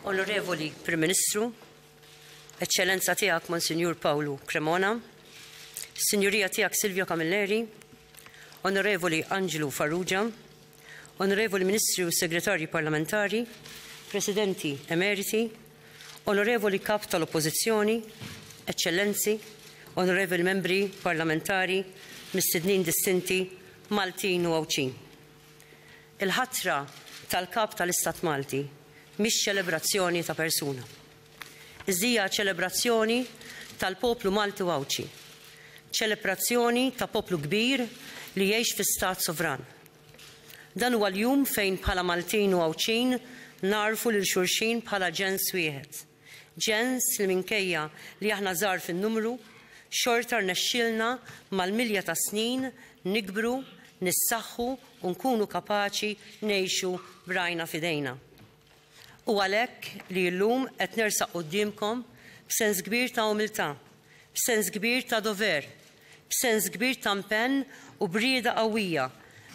Onorevoli Prim Ministru, Eċċellenza Tiegħek Monsinjur Pawlu Cremona, Sinjurija Tiegħek Silvio Camilleri, Onorevoli Anġlu Farrugia, Onorevoli Ministri u Segretarji Parlamentari, Presidenti Emeriti, Onorevoli Kap tal-Oppożizzjoni, Eċċellenzi, Onorevoli Membri Parlamentari, Mistednin Distinti, Maltin u Għawdxin. Il-ħatra tal-Kap tal-Istat Malti mhix ċelebrazzjoni ta' persuna. Iżda hija ċelebrazzjoni tal-poplu Malti u Għawdxi. Ċelebrazzjoni ta' poplu kbir li jgħix fi stat sovran. Dan huwa l-jum fejn bħala Maltin u Għawdxin nagħrfu lil xulxin bħala ġens wieħed. Ġens li minkejja li aħna żgħar fin-numru, xorta rnexxielna mal-milja ta' snin nikbru, nissaħħu u nkunu kapaċi ngħixu b'rajna f'idejna. Hu għalhekk li llum qed nersaq quddiemkom b'sens kbir ta' umiltà, b'sens kbir ta' dover, b'sens kbir ta' mpenn u b'rieda qawwija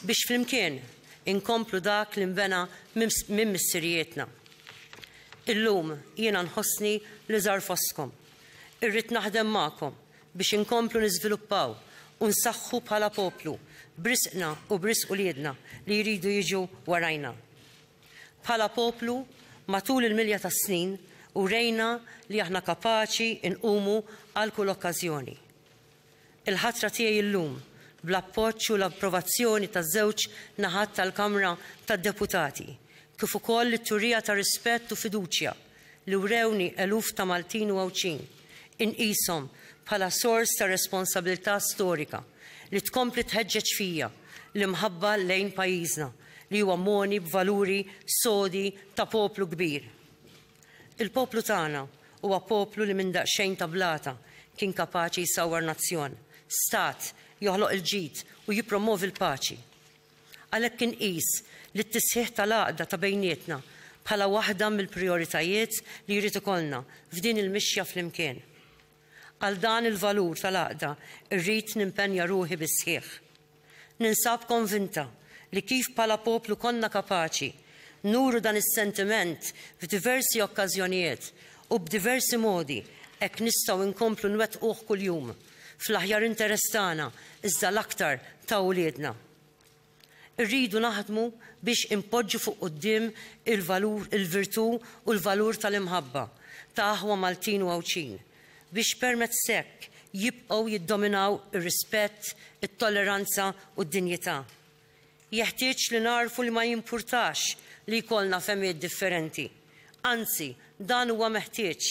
biex flimkien inkomplu dak li nbena minn missirijietna. Illum jiena nħossni li żgħar fostkom. Irrid naħdem magħkom biex inkomplu niżviluppaw u nsaħħu bħala poplu b'risqna u b'risq uliedna li jridu jiġu warajna. Bħala poplu, matul il-milja tas-snin, urejna li aħna kapaċi nqumu għal kull okkażjoni. Il-ħatra tiegħi illum, bl-appoġġ u l-approvazzjoni taż-żewġ naħat tal-Kamra tad-Deputati, kif ukoll it-turija ta' rispett u fiduċja li wrewni eluf ta' Maltin u Għawdxin, inqishom bħala sors ta' responsabilità storika li tkompli tħeġġeġ fija l-imħabba lejn pajjiżna li huwa mogħni b'valuri sodi ta' poplu kbir. Il-poplu tagħna huwa poplu li minn daqsxejn ta' blata kien kapaċi jsawwar nazzjon, stat, joħloq il-ġid u jippromwovi l-paċi. Għalhekk inqis li t-tisħiħ tal-għaqda ta' bejnietna bħala waħda mill-prijoritajiet li jrid ikollna f'din il-mixja flimkien. Għal dan il-valur tal-għaqda rrid nimpenja ruħi bis-sħiħ. Ninsab konvinta li kif bħala poplu konna kapaċi nuru dan is-sentiment f'diversi okkażjonijiet u b'diversi modi, hekk nistgħu nkomplu nwettquh kuljum, fl-aħjar interess tagħna iżda l-aktar ta' uliedna. Irridu naħdmu biex inpoġġu fuq quddiem il-valur, il-virtù u l-valur tal-imħabba, ta' aħwa Maltin u Għawdxin, biex permezz hekk jibqgħu jiddominaw ir-rispett, it-tolleranza u d-dinjità. Jeħtieġ li nagħrfu li ma jimpurtax li jkollna fehmiet differenti. Anzi, dan huwa meħtieġ.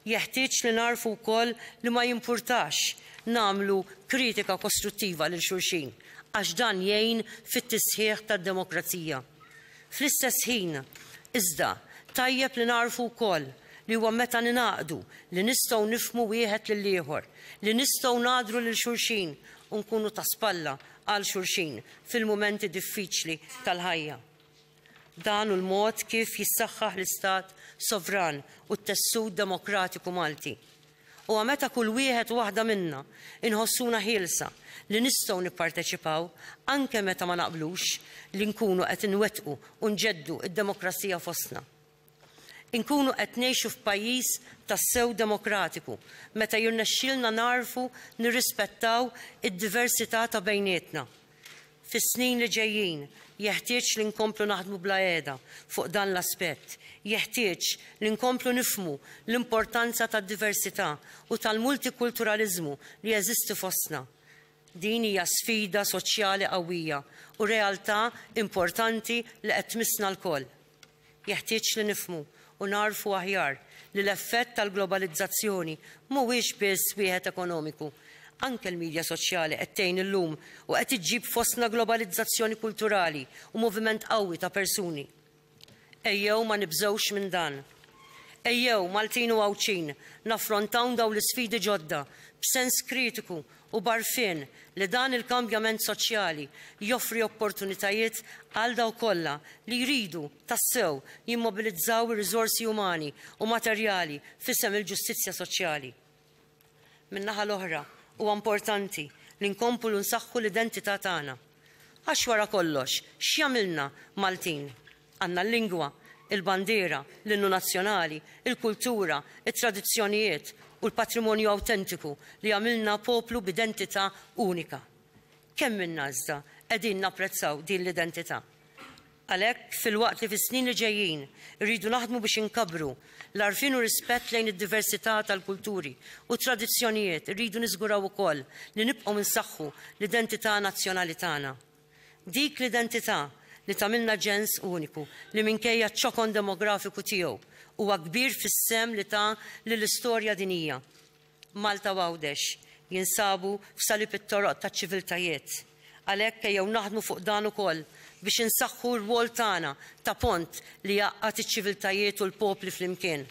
Jeħtieġ li nagħrfu wkoll li ma jimpurtax nagħmlu kritika kostruttiva lil xulxin, għax dan jgħin fit-tisħiħ tad-demokrazija. Fl-istess ħin, iżda, tajjeb li nagħrfu wkoll li huwa meta ningħaqdu li nistgħu nifhmu wieħed lill-ieħor, li nistgħu ngħadru lil xulxin u nkunu ta' spalla għal xulxin fil-mumenti diffiċli tal-ħajja. Dan hu l-mod kif jissaħħaħ l-istat sovran u t-tessut demokratiku Malti. Huwa meta kull wieħed u waħda minna inħossuna ħielsa li nistgħu nipparteċipaw, anke meta ma naqblux, li nkunu qed inwettqu u nġeddu d-demokrazija fostna. Inkunu qed ngħixu f'pajjiż tassew demokratiku meta jirnexxielna nagħrfu nirrispettaw id-diversità ta' bejnietna. Fis-snin li ġejjin jeħtieġ li nkomplu naħdmu bla qiegħda fuq dan l-aspett. Jeħtieġ li nkomplu nifhmu l-importanza tad-diversità u tal-multikulturaliżmu li jeżisti fostna. Din hija sfida soċjali qawwija u realtà importanti li qed tmissna lkoll. Jeħtieġ li nifhmu u nagħrfu aħjar li l-effett tal-globalizzazzjoni mhuwiex biss wieħed ekonomiku. Anke l-midja soċjali qed tgħin illum u qed iġġib fostna globalizzazzjoni kulturali u moviment qawwi ta' persuni. Ejjew ma nibżgħux minn dan. Ejjew, Maltin u Għawdxin, naffrontawn dawn l-isfidi ġodda b'sens kritiku u b'għarfien li dan il-kambjament soċjali joffri opportunitajiet għal dawk kollha li jridu tassew jimmobilizzaw ir-riżorsi umani u materjali f'isem il-ġustizzja soċjali. Min-naħa l-oħra, huwa importanti li nkomplu nsaħħu l-identità tagħna. Għax wara kollox, x'jagħmilna Maltin? Għandna l-lingwa, il-bandiera, l-innu nazzjonali, il-kultura, it-tradizzjonijiet u l-patrimonju awtentiku li jagħmilna poplu b'identità unika. Kemm minna iżda qegħdin napprezzaw din l-identità? Għalhekk, filwaqt li fis-snin li ġejjin irridu naħdmu biex inkabbru l-għarfien u r-rispett lejn id-diversità tal-kulturi u t-tradizzjonijiet, irridu niżguraw ukoll li nibqgħu nsaħħu l-identità nazzjonali tagħna. Dik l-identità li tagħmilna ġens uniku li minkejja ċ-ċokon demografiku tiegħu huwa kbir fis-sehem li ta lill-istorja dinjija. Malta u Għawdex jinsabu f'salib it-toroq taċ-ċiviltajiet. Għalhekk ejjew naħdmu fuq dan ukoll biex insaħħu r-rwol tagħna ta' pont li jgħaqqad iċ-ċiviltajiet u l-popli flimkien.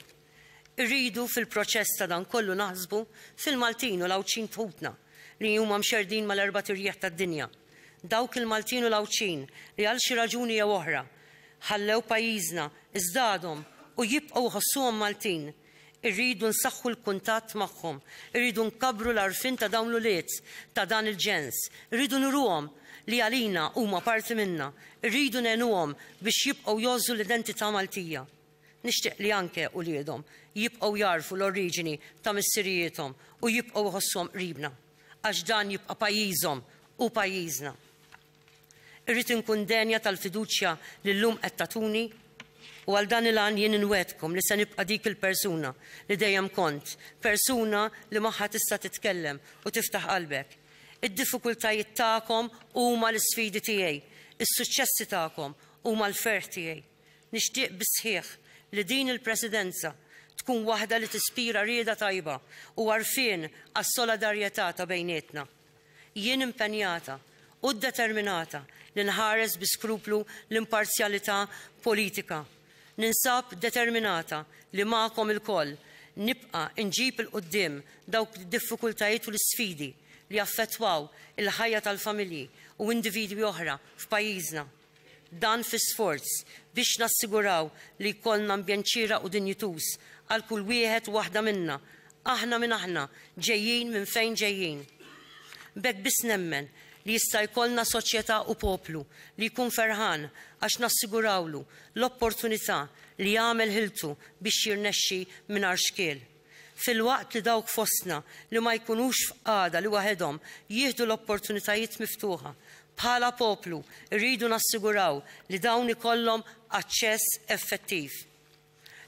Irridu fil-proċess ta' dan kollu naħsbu fil-Maltin u l-Għawdxin f'ħutna li huma mxerrdin mal-erbat irjieħ tad-dinja. Dawk il-Maltin u l-Għawdxin li għal xi raġuni jew oħra ħallew pajjiżna iżda għadhom u jibqgħu jħossuhom Maltin, irridu nsaħħu l-kuntatt magħhom, irridu nkabbru l-għarfien ta' dawn l-ulied ta' dan il-ġens, irridu nuruhom li għalina huma parti minna, irridu ngħinuhom biex jibqgħu jgħożżu l-identità Maltija. Nixtieq li anke uliedhom jibqgħu jagħrfu l-oriġini ta' missirijiethom u jibqgħu jħossuhom qribna, għax dan jibqa' pajjiżhom u pajjiżna. Irrid inkun denja tal-fiduċja li llum qed tagħtuni u għal dan il-għan jien inwegħdkom li se nibqa' dik il-persuna li dejjem kont, persuna li magħha tista' titkellem u tiftaħ qalbek. Id-diffikultajiet tagħkom huma l-isfidi tiegħi, is-suċċessi tagħkom huma l-ferħ tiegħi. Nixtieq bis-sħiħ li din il-Presidenza tkun waħda li tispira rieda tajba u għarfien għas-soladarjetà ta' bejnietna. Jien impenjata u ddeterminata li nħares bi skruplu l-imparzjalità politika. Ninsab determinata li magħkom ilkoll nibqa' nġib 'il quddiem dawk id-diffikultajiet u l-isfidi li jaffettwaw il-ħajja tal-familji u individwi oħra f'pajjiżna. Dan fi sforz biex nassiguraw li jkollna ambjent xieraq u dinjituż għal kull wieħed u waħda minna, aħna min aħna, ġejjin minn fejn ġejjin. B'hekk biss nemmen li jista' jkollna soċjetà u poplu li jkun ferħan għax nassigurawlu l-opportunità li jagħmel ħiltu biex jirnexxi mingħajr xkiel. filwaqt li dawk fostna li ma jkunux f'qagħda li waħedhom jieħdu l-opportunitajiet miftuħa. Bħala poplu, irridu nassiguraw li dawn ikollhom aċċess effettiv.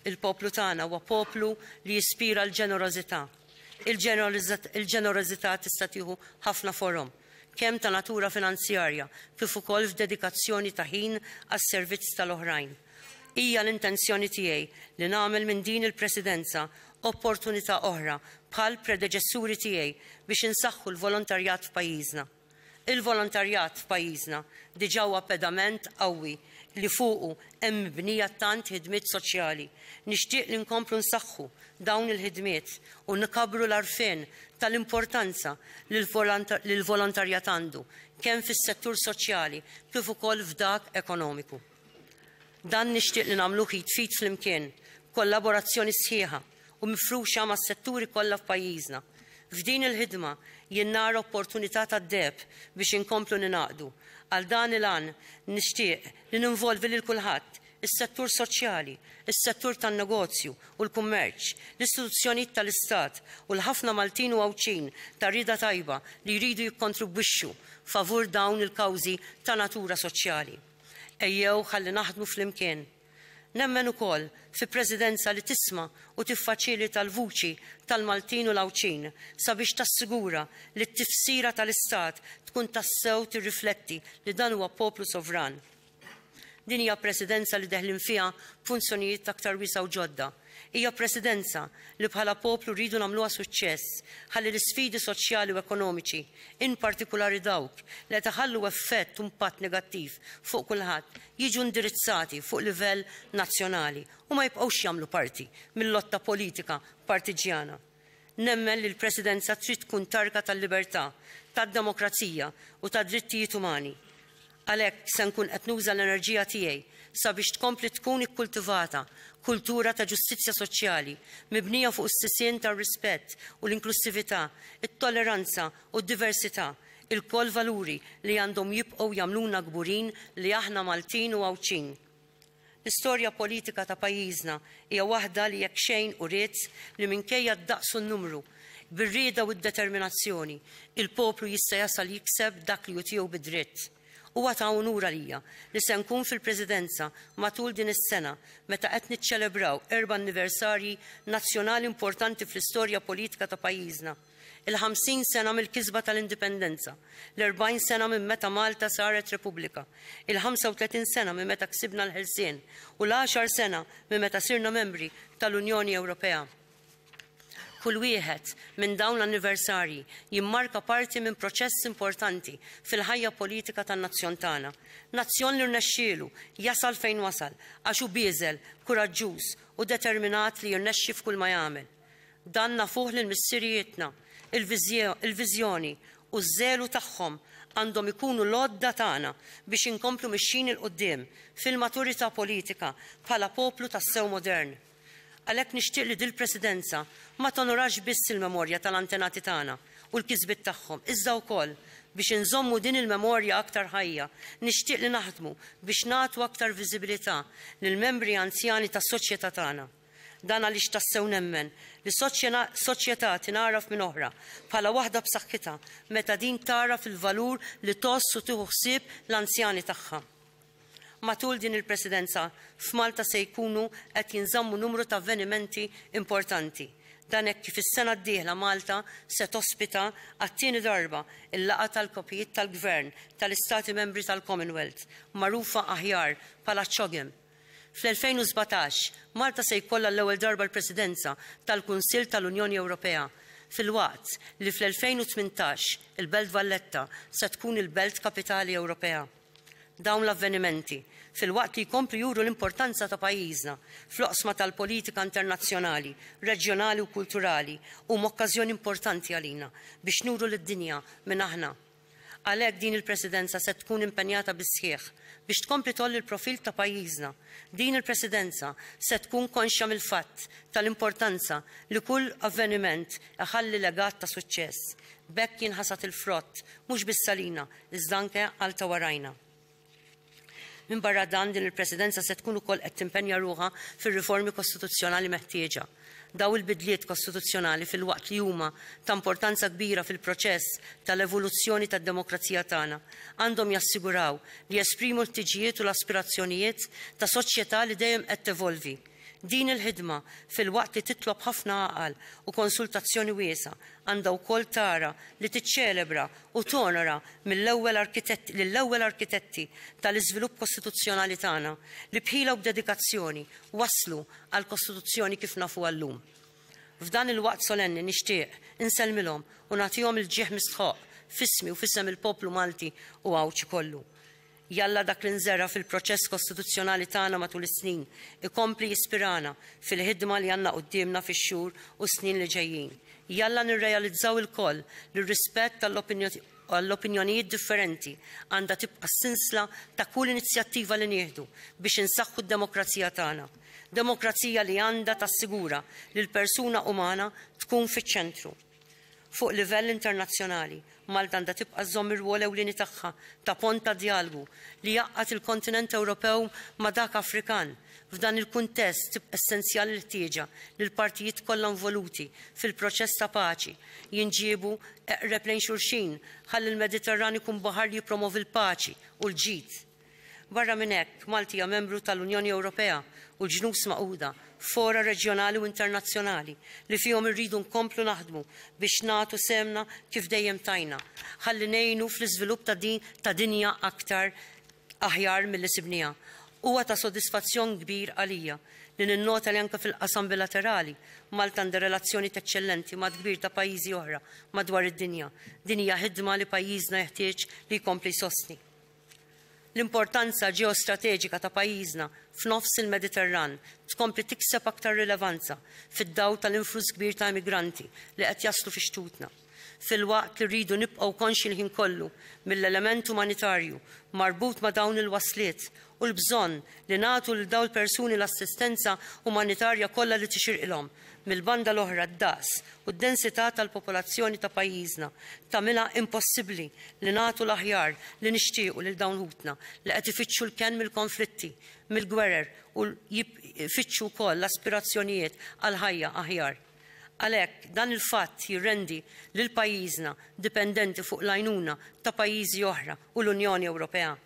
Il-poplu tagħna huwa poplu li jispira l-ġenerożità. Il-ġenerożità tista' tieħu ħafna forom, kemm ta' natura finanzjarja kif ukoll f'dedikazzjoni ta' ħin għas-servizz tal-oħrajn. Hija l-intenzjoni tiegħi li nagħmel minn din il-Presidenza opportunità oħra bħall-predeċessuri tiegħi biex insaħħu l-volontarjat f'pajjiżna. Il-volontarjat f'pajjiżna diġà huwa pedament qawwi li fuqu hemm mibnija tant ħidmiet soċjali. Nixtieq li nkomplu nsaħħu dawn il-ħidmiet u nkabbru l-għarfien tal-importanza li l-volontarjat għandu kemm fis-settur soċjali kif ukoll f'dak ekonomiku. Dan nixtieq li nagħmluh id f'id flimkien, b'kollaborazzjoni sħiħa u mifruxa mas-setturi kollha f'pajjiżna. F'din il-ħidma jien nara opportunità tad-deheb biex inkomplu ningħaqdu. Għal dan il-għan nixtieq li ninvolvi lil kulħadd, is-settur soċjali, is-settur tan-negozju u l-kummerċ, l-istituzzjonijiet tal-istat u l-ħafna Maltin u Għawdxin ta' rieda tajba li jridu jikkontribwixxu favur dawn il-kawżi ta' natura soċjali. Ejjew ħalli naħdmu flimkien. Nemmen ukoll fi Presidenza li tisma' u tiffaċilita l-vuċi tal-Maltin u l-Għawdxin sabiex tassigura li t-tifsira tal-istat tkun tassew tirrifletti li dan huwa poplu sovran. Din hija Presidenza li deħlin fiha b'funzjonijiet aktar wiesgħa u ġodda, Hija Presidenza li bħala poplu rridu nagħmluha suċċess ħalli l-isfidi soċjali u ekonomiċi, in partikulari dawk li qed iħallu effett u mpatt negattiv fuq kulħadd, jiġu indirizzati fuq livell nazzjonali u ma jibqgħux jagħmlu parti mil-lotta politika partiġġjana. Nemmen li l-Presidenza trid tkun targa tal-libertà, tad-demokrazija u tad-drittijiet umani. Għalhekk se nkun qed nuża l-enerġija tiegħi sabiex tkompli tkun ikkultivata kultura ta' ġustizzja soċjali mibnija fuq is-sisien tar-rispett u l-inklussività, it-tolleranza u d-diversità, ilkoll valuri li għandhom jibqgħu jagħmluna kburin li aħna Maltin u Għawdxin. L-istorja politika ta' pajjiżna hija waħda li jekk xejn uriet li minkejja d-daqs u n-numru, bir-rieda u d-determinazzjoni, il-poplu jista' jasal jikseb dak li hu tiegħu bid-dritt. Huwa ta' unur għalija li se nkun fil-Presidenza matul din is-sena meta qed niċċelebraw erba' anniversarji nazzjonali importanti fl-istorja politika ta' pajjiżna. il-50 sena mill-kisba tal-Indipendenza, l-40 sena minn meta Malta saret Repubblika, il-35 sena minn meta ksibna l-ħelsien u l-għaxar sena minn meta sirna membri tal-Unjoni Ewropea. Kull wieħed minn dawn l-anniversarji jimmarka parti minn proċess importanti fil-ħajja politika tan-nazzjon tagħna. Nazzjon li rnexxielu jasal fejn wasal għax hu bieżel, kuraġġuż u determinat li jirnexxi f'kull ma jagħmel. Dan nafuh lil missirijietna, il-viżjoni u ż-żelu tagħhom għandhom ikunu l-għodda tagħna biex inkomplu mixjin 'il quddiem fil-maturità politika bħala poplu tassew modern. Għalhekk nixtieq li dil-Presidenza ma tonorax biss il-memorja tal-antenati tagħna u l-kisbiet tagħhom iżda wkoll biex inżommu din il-memorja aktar ħajja nixtieq li naħdmu biex nagħtu aktar viżibilità lill-membri anzjani tas-soċjetà tagħna. Dan għaliex tassew nemmen li soċjetà tingħaraf minn oħra bħala waħda b'saħħitha meta din tagħraf il-valur li tgħożż u tieħu ħsieb l-anzjani tagħha. Matul din il-Presidenza, f'Malta se jkunu qed jinżammu numru ta' avvenimenti importanti. Dan hekk kif is-sena d-dieħla Malta se tospita għat-tieni darba l-laqgħa tal-Kapijiet tal-Gvern tal-Istati Membri tal-Commonwealth, magħrufa aħjar bħala CHOGM. Fl-2017, Malta se jkollha għall-ewwel darba l-Presidenza tal-Kunsill tal-Unjoni Ewropea, filwaqt li fl-2018 il-Belt Valletta se tkun il-Belt Kapitali Ewropea. Dawn l-avvenimenti, filwaqt li jkomplu juru l-importanza ta' pajjiżna fl-oqsma tal-politika internazzjonali, reġjonali u kulturali, huma okkażjoni importanti għalina biex nuru lid-dinja min aħna. Għalhekk din il-Presidenza se tkun impenjata bis-sħiħ biex tkompli tgħolli l-profil ta' pajjiżna. Din il-Presidenza se tkun konxja mill-fatt tal-importanza li kull avveniment iħalli legat ta' suċċess. B'hekk jinħasad il-frott mhux biss għalina iżda anke għal ta' warajna. Minbarra dan, din il-Presidenza se tkun ukoll qed timpenja ruħha fir-riformi kostituzzjonali meħtieġa. Dawn il-bidliet kostituzzjonali filwaqt li huma ta' importanza kbira fil-proċess tal-evoluzzjoni tad-demokrazija tagħna, għandhom jassiguraw li jesprimu l-ħtiġijiet u l-aspirazzjonijiet ta' soċjetà li dejjem qed tevolvi. Din il-ħidma, filwaqt li titlob ħafna għaqal u konsultazzjoni wiesgħa, għandha wkoll tara li tiċċelebra u tonora mill-ewwel arkitetti lill-ewwel arkitetti tal-iżvilupp kostituzzjonali tagħna li b'ħila u b'dedikazzjoni wasslu għall-Kostituzzjoni kif nafuha llum. F'dan il-waqt solenni nixtieq insellmilhom u nagħtihom il-ġieħ mistħoqq f'ismi u f'isem il-poplu Malti u Għawdxi kollu. Jalla dak li nżera' fil-proċess kostituzzjonali tagħna matul is-snin ikompli jispirana fil-ħidma li għandna quddiemna fix-xhur u s-snin li ġejjin. Jalla nirrealizzaw ilkoll li r-rispett għall-opinjonijiet differenti għandha tibqa' s-sinsla ta' kull inizjattiva li nieħdu biex insaħħu d-demokrazija tagħna. Demokrazija li għandha tassigura li l-persuna umana tkun fiċ-ċentru. Fuq livell internazzjonali, Malta għandha tibqa' żżomm ir-rwol ewlieni tagħha ta' pont ta' djalogu li jgħaqqad il-kontinent Ewropew ma' dak Afrikan. F'dan il-kuntest, tibqa' essenzjali l-ħtieġa li l-partijiet kollha involuti fil-proċess ta' paċi jinġiebu eqreb lejn xulxin ħalli l-Mediterran ikun baħar li jippromovi l-paċi u l-ġid. Barra minn hekk, Malti hija membru tal-Unjoni Ewropea u l-Ġnus Magħquda, fora reġjonali u internazzjonali li fihom irridu nkomplu naħdmu biex nagħtu sehemna kif dejjem tajna ħalli ngħinu fl-iżvilupp ta' dinja aktar aħjar milli sibniha. Huwa ta' sodisfazzjon kbir għalija li ninnota li anke fil-qasam bilaterali, Malta għandha relazzjonijiet eċċellenti ma' dkbir ta' pajjiżi oħra madwar id-dinja. Din hija ħidma li pajjiżna jeħtieġ li jkompli jsostni. L-importanza ġeostrateġika ta' pajjiżna f'nofs il-Mediterran tkompli tikseb aktar rilevanza fid-dawl tal-influss kbir ta' emigranti li qed jaslu fi xtutna, filwaqt li rridu nibqgħu konxji l-ħin kollu mill-element umanitarju marbut ma' dawn il-wasliet u l-bżonn li nagħtu lil dawn il-persuni l-assistenza umanitarja kollha li tixirqilhom Mill-banda l-oħra d-daqs u d-densità tal-popolazzjoni ta' pajjiżna tagħmilha impossibbli li nagħtu l-aħjar li nixtiequ lil dawn ħutna li qed ifittxu l-kenn mill-konflitti, mill-gwerer u jfittxu wkoll l-aspirazzjonijiet għal ħajja aħjar. Għalhekk, dan il-fatt jirrendi lil pajjiżna dipendenti fuq l-għajnuna ta' pajjiżi oħra u l-Unjoni Ewropea.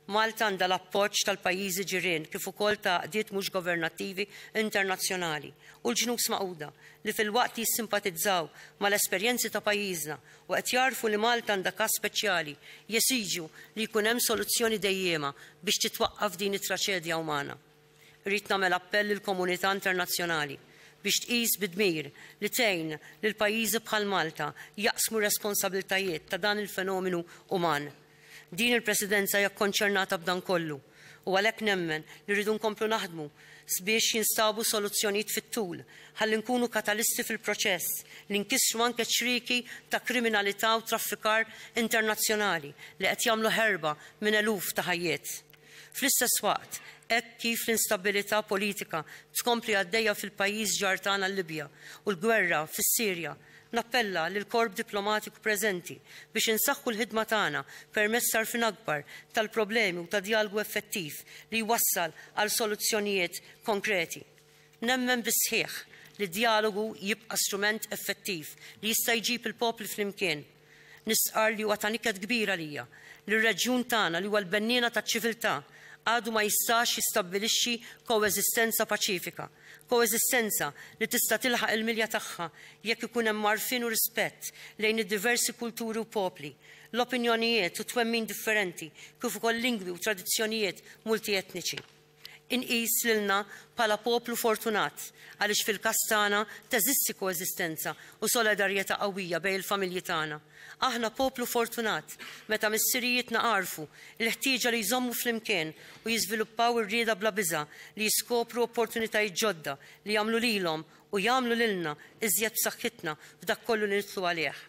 Malta għandha l-appoġġ tal-pajjiżi ġirien kif ukoll ta' għaqdiet mhux governattivi internazzjonali u l-Ġnus Magħquda li filwaqt li jissimpatizzaw mal-esperjenzi ta' pajjiżna u qed jagħrfu li Malta għandha każ speċjali jesiġu li jkun hemm soluzzjoni dejjiema biex titwaqqaf din it-traċedja umana. Irrid nagħmel appell lill-komunità internazzjonali biex tqis bi dmir li tgħin lil pajjiżi bħal Malta jaqsmu r-responsabiltajiet ta' dan il-fenomenu uman. Din il-Presidenza hija kkonċernata b'dan kollu u għalhekk nemmen li rridu nkomplu naħdmu sbiex jinstabu soluzzjonijiet fit-tul ħalli nkunu katalisti fil-proċess li nkissru anke ċ-ċrieki ta' kriminalità u traffikar internazzjonali li qed jagħmlu ħerba minn eluf ta' ħajjiet. Fl-istess waqt, hekk kif l-instabilità politika tkompli għaddejja fil-pajjiż ġar tagħna l-Libja u l-gwerra fis-Sirja, nappella lill-korp diplomatiku preżenti biex insaħħu l-ħidma tagħna permezz t'għarfien akbar tal-problemi u ta' djalgu effettiv li jwassal għal soluzzjonijiet konkreti. Nemmen bis-sħiħ li d-djalogu jibqa' strument effettiv li jista' jġib il-popli flimkien, Nistqarr li huwa ta' niket kbir għalija li r-reġjun tagħna li huwa l-benniena taċ-ċiviltà għadu ma jistax jistabbilixxi koeżistenza paċifika, koeżistenza li tista' tilħaq il-milja tagħha jekk ikun hemm għarfien u rispett lejn id-diversi kulturi u popli, l-opinjonijiet u twemmin differenti kif ukoll lingwi u tradizzjonijiet multietniċi. inqis lilna bħala poplu fortunat għaliex fil-każ tagħna teżisti koeżistenza u solidarjetà qawwija bejn il-familji tagħna. Aħna poplu fortunat meta missirijietna għarfu l-ħtieġa li jżommu flimkien u jiżviluppaw ir-rieda bla biża' li jiskopru opportunitajiet ġodda li jagħmlu lilhom u jagħmlu lilna iżjed b'saħħitna f'dak kollu li nidħlu għalih.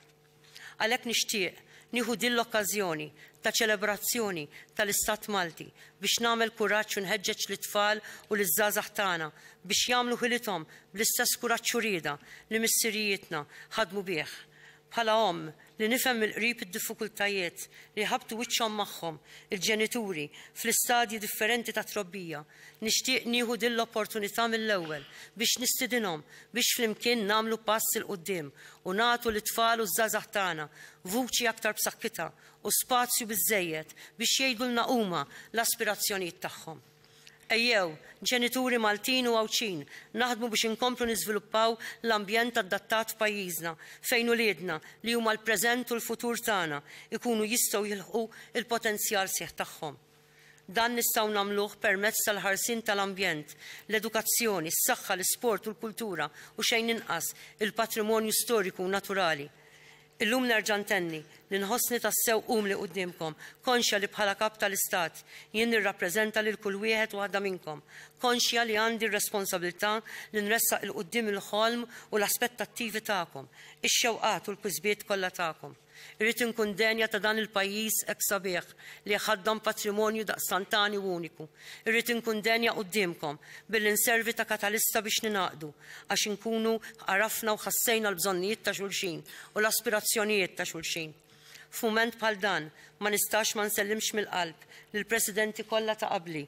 Għalhekk nixtieq nieħu din l-okkażjoni ta' ċelebrazzjoni tal-Istat Malti biex nagħmel kuraġġ u nħeġġeġ lit-tfal u liż-żgħażagħ tagħna biex jagħmlu ħilithom bl-istess kuraġġ u rieda li missirijietna ħadmu bih. Bħala omm li nifhem mill-qrib id-diffikultajiet li jħabbtu wiċċhom magħhom il-ġenituri fl-istadji differenti tat-trobbija, Nixtieq nieħu din l-opportunità mill-ewwel biex nistidinhom biex flimkien nagħmlu pass 'il quddiem u nagħtu lit-tfal u ż-żgħażagħ tagħna vuċi aktar b'saħħitha u spazju biżżejjed biex jgħidulna huma l-aspirazzjonijiet tagħhom. Ejjew, ġenituri Maltin u Għawdxin, naħdmu biex inkomplu niżviluppaw l-ambjent addattat f'pajjiżna fejn uliedna, li huma l-preżent u l-futur tagħna, ikunu jistgħu jilħqu l-potenzjal sħiħ tagħhom. Dan nistgħu nagħmluh permezz tal-ħarsien tal-ambjent, l-edukazzjoni, s-saħħa, l-isport u l-kultura, u xejn inqas, il-patrimonju storiku u naturali. Illum nerġa' ntenni li nħossni tassew umli quddiemkom, konxja li bħala Kap tal-Istat, jien nirrappreżenta lil kull wieħed u waħda minnkom, konxja li għandi r-responsabilità li nressaq 'il quddiem il-ħolm u l-aspettattivi tagħkom, ix-xewqat u l-kisbiet kollha tagħkom. Irrid inkun denja ta' dan il-pajjiż hekk sabiħ li jħaddan patrimonju daqstant għani u uniku. Irrid inkun denja quddiemkom billi nservi ta' katalista biex ningħaqdu għax inkunu għarafna u ħassejna l-bżonnijiet ta' xulxin u l-aspirazzjonijiet ta' xulxin. F'mument bħal dan ma nistax ma nsellimx mill-qalb lill-Presidenti kollha ta' qabli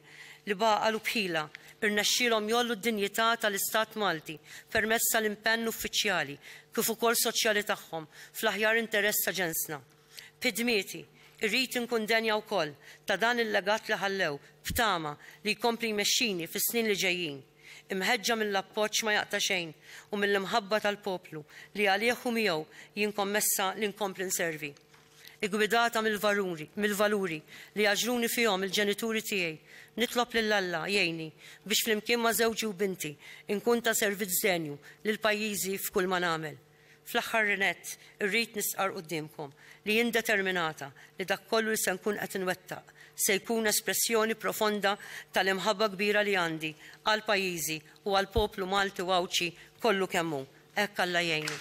li b'għaqal u b'ħila irnexxielhom jgħollu d-dinjità tal-Istat Malti permezz tal-impenn uffiċjali kif ukoll soċjali tagħhom fl-aħjar interess ta' ġensna. Bi dmieti, irrid inkun denja wkoll ta' dan il-legat li ħallew, b'tama li jkompli jmexxini fis-snin li ġejjin. Imħeġġa mill-appoġġ ma jaqta' xejn u mill-imħabba tal-poplu li għalih u miegħu jien kommessa li nkompli nservi. iggwidata mill-valuri, mill-valuri li għaġġluni fihom il-ġenituri tiegħi, nitlob lil Alla jgħinni biex flimkien ma' żewġi u binti nkun ta' servizz denju lil pajjiżi f'kull ma nagħmel. Fl-aħħar nett, irrid nistqarr quddiemkom li jien determinata li dak kollu li se nkun qed inwettaq se jkun espressjoni profonda tal-imħabba kbira li għandi għal pajjiżi u għall-poplu Malti u Għawdxi kollu kemm hu. Hekk Alla jgħinu.